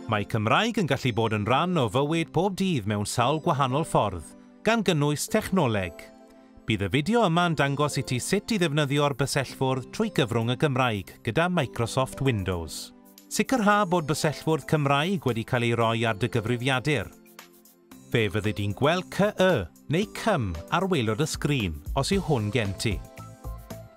Mae Cymraeg yn gallu bod yn rhan o fywyd pob dydd mewn sawl gwahanol ffordd, gan gynnwys technoleg. Bydd y fideo yma'n dangos i ti sut i ddefnyddio'r bysellfwrdd trwy gyfrwng y Gymraeg gyda Microsoft Windows. Sicrha bod bysellfwrdd Cymraeg wedi cael ei roi ar dy gyfrifiadur. Fe fyddi di'n gweld CY neu CYM ar waelod y sgrin os yw hwn gen ti.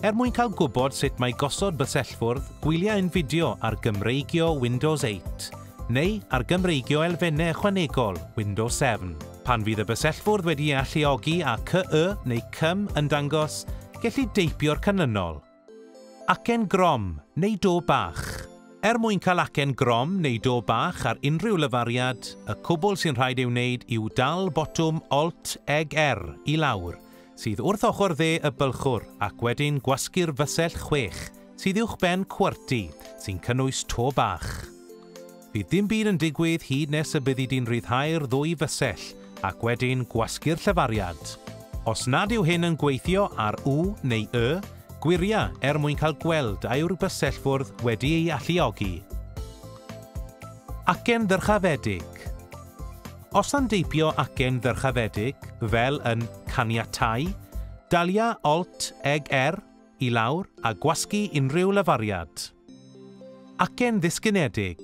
Er mwyn cael gwybod sut mae gosod bysellfwrdd, gwylia ein fideo ar Gymreigio Windows 8 neu ar Gymreigio Elfennau Ychwanegol Windows 7. Pan fydd y bysellfwrdd wedi ei alluogi a CY neu CYM yn dangos, gelli deipio'r canlynol. Acen grom neu do bach. Er mwyn cael acen grom neu do bach ar unrhyw lafariad, y cwbl sy'n rhaid ei wneud yw dal botwm Alt, Eg, R i lawr, sydd wrth ochr dde y bylchwr, ac wedyn gwasgu'r fysell chwech, sydd uwchben QWERTY, sy'n cynnwys to bach. Bydd dim byd yn digwydd hyd nes y byddi di'n rhyddhau'r ddwy fysell ac wedyn gwasgu'r llefariad. Os nad yw hyn yn gweithio ar U neu Y, gwiria er mwyn cael gweld a yw'r bysellfwrdd wedi ei alluogi. Acen ddyrchafedig Os am deipio acen ddyrchafedig, fel yn 'caniatáu', dalia Alt, Eg-R, i lawr a gwasgu unrhyw lafariad. Acen ddisgynedig.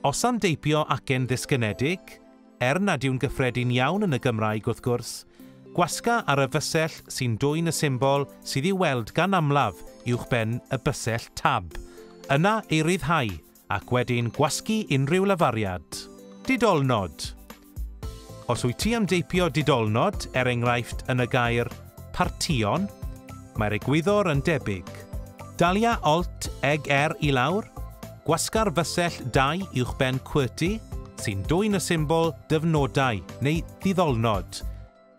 Os am deipio acen ddisgynedig, er nad yw'n gyffredin iawn yn y Gymraeg wrth gwrs, gwasga ar y fysell sy'n dwyn y symbol sydd i'w weld gan amlaf uwchben y bysell Tab, yna ei ryddhau ac wedyn gwasgu unrhyw lafariad. Didolnod Os wyt ti am deipio didolnod, er enghraifft yn y gair partïon, mae'r egwyddor yn debyg. Dalia Alt eg R i lawr, gwasga'r fysell dau uwchben QWERTY, sy'n dwyn y symbol Dyfnodau neu Didolnod.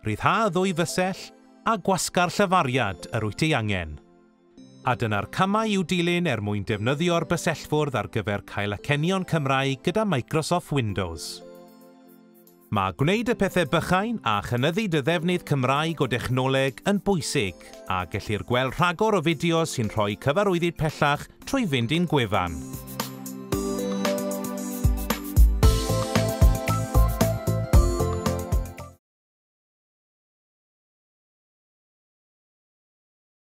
Rhyddha y ddwy fysell a gwasga'r llafariad yr wyt ei angen. A dyna'r camau i'w dilyn er mwyn defnyddio'r bysellfwrdd ar gyfer cael acenion Cymraeg gyda Microsoft Windows. Mae gwneud y pethau bychain a chynyddu dy ddefnydd Cymraeg o dechnoleg yn bwysig, a gellir gweld rhagor o fideos sy'n rhoi cyfarwyddyd pellach trwy fynd i'n gwefan.